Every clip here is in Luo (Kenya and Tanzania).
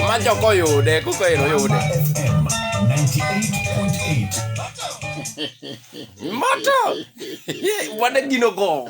Macho koyude, kuko ero yude. Moto! Wadagino go.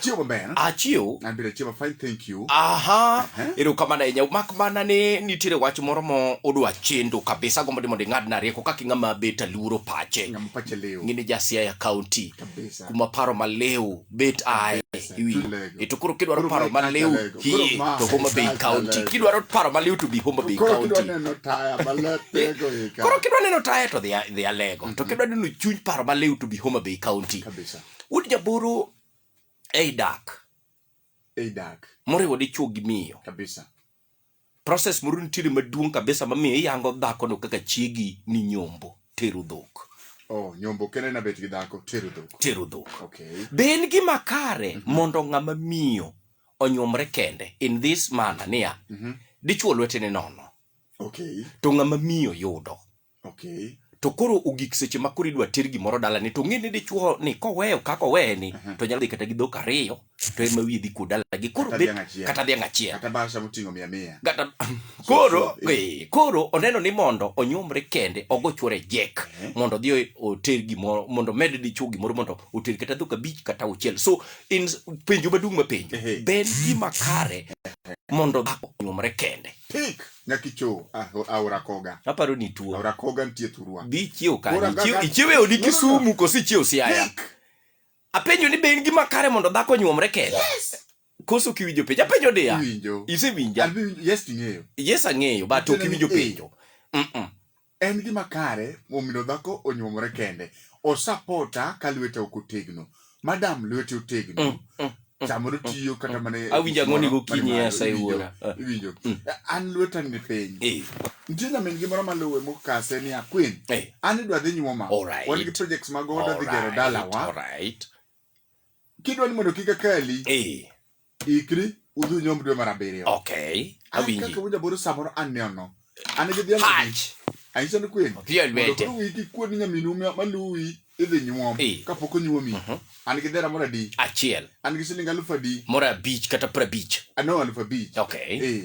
Chiwo maber. Achiw. An bende chiwo fine thank you. Aha. Ero kama na inya mak mana ni nitire wach moro mo odwa chendo kabisa gombo dimo dingad na rieko kaki ngama beta luro pache. Ngama pache leo. Ngini jasia ya county. Kabisa. Kuma paro ma leo bet ai. Iwi. Eto kuro kidwa ro paro ma leo. Hi. To Homa Bay County. Kidwa ro paro ma leo to bi Homa Bay County. Kuro kidwa neno taya ma leo. Kuro kidwa neno taya to dhia lego. To kidwa neno chuny paro ma leo to bi Homa Bay County. Kabisa. Would Jaburu ei dak ei dak moriwo dichuo gi miyo kabisa process moro nitiere maduong' kabisa mamiyo iyango dhakono kaka chiegi ni nyombo tero dhok oh nyombo kendo ena bet gi dhako tero dhok tero dhok okay be en gima kare mm -hmm. mondo ng'ama miyo onyuomre kende in this manner niya mm -hmm. dichuo lwetene nono okay to ng'ama miyo yudo Okay. To koro ogik seche ma koro idwa ter gimoro dalani to ng'e ni dichuo ni koweyo kaka oweye ni uh-huh. to nyalo dhi kata gi dhok ariyo to ema wiye dhi kuodala gi koro bet kata dhiang' achiel kata basha moting'o mia mia kata koro eh. eh, koro oneno ni mondo onyuomre kende ogo chuore jek eh. mondo odhi oter gimoro mondo med dichuo gimoro mondo oter kata dhok abich kata auchiel so in penjo maduong' mapenjo ben gima kare mondo dhako onyuomre kende Pick. nyaka icho aora koga aparo ni tuo aora koga nitie thurwa dhi ichiew kanye Ichiew- ichiew e odi kisumu koso ichiew siaya apenjo ni be in gima kare mondo dhako nyuomre kende koso kiwinjo penjo apenjo diya Iwinjo. isewinja Abi- yes ing'eyo yes ang'eyo but ok iwinjo penjo Mm-mm. En gima kare momino dhako onyuomore kende. Osapota ka lweta ok otegno. Madam lweti otegno. Mm, mm, mm, Samoro mm, tiyo kata mm. mana e Awinjo ang'oni gimoro gokinyi mani malo, esa iwinjo- iwuora. Ah, Iwinjo. Mm. An lweta ni piny. eh, Nitie nyamin gi moro maluwe mokase ni akwin. eh, An idwa dhi nyuoma. Alright. Wan gi projects mag oda dhi gero alright, dalawa. alright. kidwa ni mondo kik akali eh. ikri udhi nyom dwe mar abiriyo okay awinji kaka wuja boro samoro aneno an gi dhiang anyiso ni kwen mondo wiki kuod nyaminu maluwi idhi nyuom eh. kapok onyuomi mhm. an gi dhera moro adi achiel an gi siling alufu adi moro abich kata prabich ano ah, alufu abich okay eh.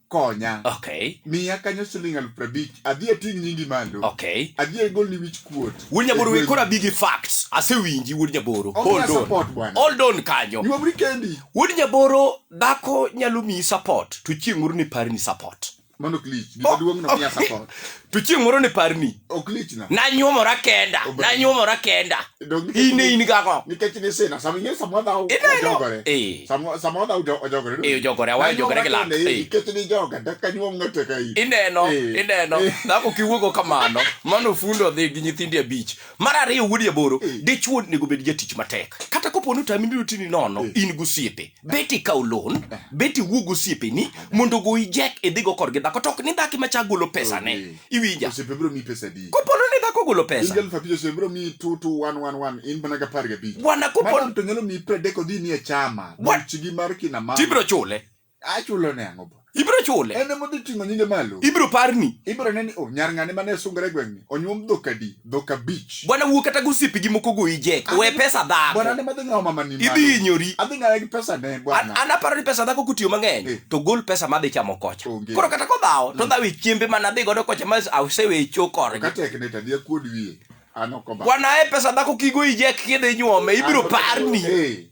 konya okay miya kanyo siling aluf prabich adhi ating' nyingi malo okay adhi agolni wich kuot wuod nyaboro we kora bigi facts asewinji wuod nyaboro Onge hold on support bwana. hold on kanyo nyuomri kendi wuod nyaboro dhako nyalo miyi support to chieng' moro ni pari ni support mano klich gimaduong' no miya support to chieng' moro ne parni ok lichna nanyuomora kenda Ober. nanyuomora kenda Dong nikech- in in gago nikech ni sina sama ing'e sama wadhaw Ineno. ojogore Eh. sama sama wadhaw ojo- ojogore Eh, ojogore, awa ojogore gi lak, eh. nikech ni joga daka nyuom ng'ato ka in ineno Eh. ineno Eh. dhako kiwuogo kamano mano fundo dhi gi nyithindi abich mar ariyo wuodi aboro Eh. dichuo onego bed jatich matek kata kopo ni otami biro tini nono Eh. in gosiepe bet ikaw loan eh. bet iwuo gi osiepeni eh. mondo ogoyi jek idhigo kodgi dhako to ok ni dhaki macha golo pesane okay. iwinja kopono ni dhako golo pesa wana kopotibiro chule achulone ang'o ibiro chule en ema odhi ting'o nyinge malo ibiro parni ibiro neni o oh, nyar ng'ane mane sungre gweng'ni onyuom dhok adi dhok abich bwana wuo kata gosipi gi moko goyi jek we pesa dhako bwana ne madhi ng'awo mama ni idhi inyori adhi ng'awe gi pesa ne bwana an aparo ni pesa dhako kutiyo mang'eny eh. to gol pesa madhi chamo kocha koro kata kodhawo to mm. dhawe chiembe mana dhi godo kocha ma asewe chokore kata ekne tadi akuod wiye an ok bwana e pesa dhako kigo ijek kidhi nyuome ibiro parni hey. Eh.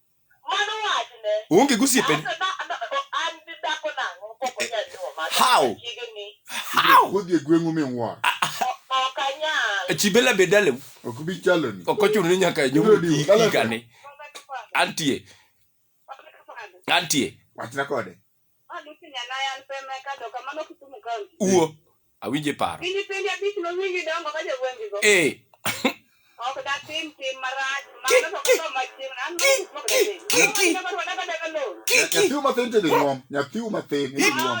Onge gosiepe. How? How? Kodhi e gweng'u minwuoro. Chibela be dalew. Ok bi chaloni. Ok ochuno ni nyaka nyombi higani. Antie. Antie. Wachna kode. Uo. Awinje paro. Eh. Nyathiu mathin to nyuom. Nyathiu mathin to nyuom.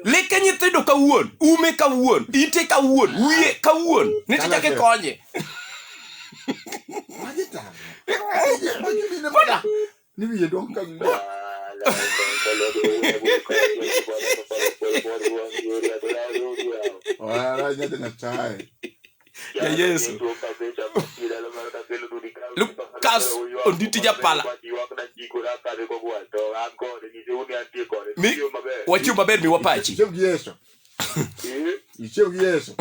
Leke nyithindo kawuon, ume kawuon, ite kawuon, wiye kawuon. Nitie kaka ikonye. Maji tang. Maji mine modak. Ni wiye dong ka wiye. Wala nyata nyachae. Ya Yesu. Lukas onditi japala. Mi wachiw maber mi wapachi. Ichiew gi Yesu. Ichiew gi Yesu.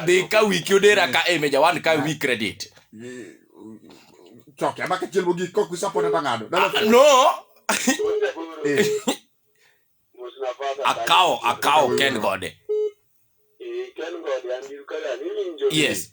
dhi ka wiki odera ka e meja wan ka wi credit choke ama kachiel mogik kok isapota to ng'ado ah, no eh. akawo akawo ken gode eh, yes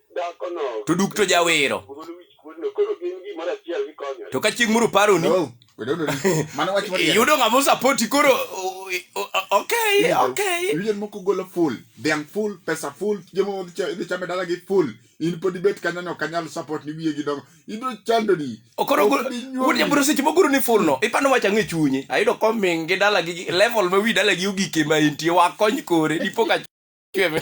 to duk to jawero to ka chieng' moro paroni iyudo ng'ama osapoti koro okay okay yien moko golo full dhiang' full pesa full chiemo dhi chame dalagi full in pod ibet kanyono kanyal support ni wiye gidongo ibiro chandori okoro wuodja bro seche mogoro ni full no ipano wacha ng'e chunye ayudo koming gi dala gi level ma wi dala gi ogike ma intie wakony kore dipo ka chwe